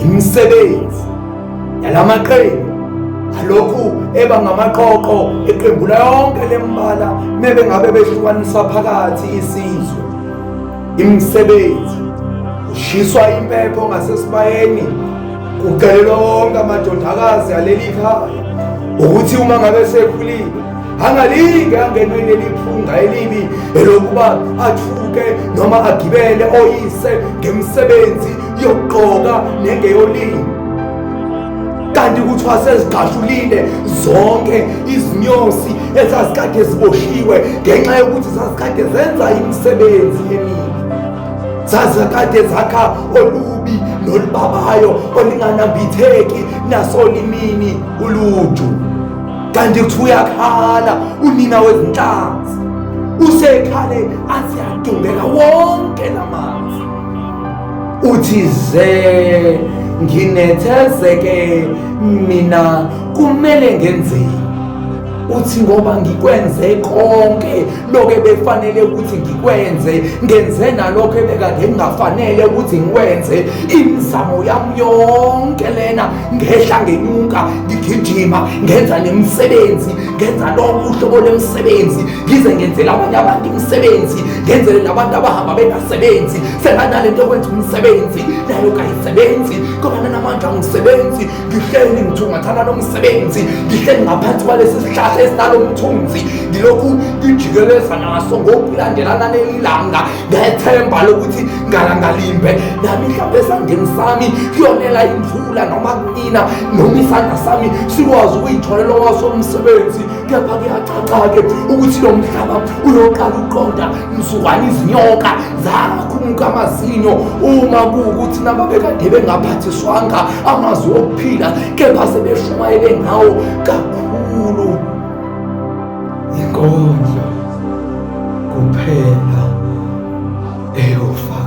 imisebenzi yalamaqembu alokhu eba ngamaqoqo eqembu layonke lembala mebe ngabe behlukaniswa phakathi isizwe imisebenzi ushiswa impepho ngasesibayeni kucelelwa wonke amadodakazi aleli khaya ukuthi uma ngabe sekhulile angalinge angenwe leli phunga elibi elokuba athuke noma agibele oyise ngemisebenzi yokugqoka nengeyolini kanti kuthiwa sezigqashulile zonke izinyosi ezazikade ziboshiwe ngenxa yokuthi zazikade zenza imisebenzi emibi zazikade zakha olubi nolubabayo olinganambitheki nasolimini uluju kanti kuthi uyakhala unina wezinhlanzi usekhale athi yadungeka wonke la manzi uthi ze nginethezeke mina kumele ngenzeni uthi ngoba ngikwenze konke lokho ebefanele ukuthi ngikwenze ngenze nalokho ebekade ngingafanele ukuthi ngikwenze imizamo yami yonke lena ngehla ngenyuka ngigijima ngenza nemisebenzi ngenza lonke uhlobo lemisebenzi ngize ngenzela abanye abantu imisebenzi ngenzele nabantu abahamba bengasebenzi senganale nto yokwenza umsebenzi nayo kayisebenzi ngoba nanamandla angisebenzi ngihleli ngithungathana nomsebenzi ngihleli ngaphansi kwalesi sihlahla esinalo mthunzi ngilokhu ngijikeleza naso ngokulandelana nelilanga ngethemba lokuthi ngalangalimbe nami mhlawumbe esandeni sami kuyonela imvula noma kunina noma isandla sami sikwazi ukuyitholela wasomsebenzi kepha kuyacaca-ke ukuthi lo mhlaba uyoqala ukuqonda mzukwane izinyoka zakhumuka amazinyo uma kuwukuthi nababekade bengaphathiswanga amazwi okuphila kepha sebeshumayele ngawo kakhulu inkondlo kuphela eyofakazi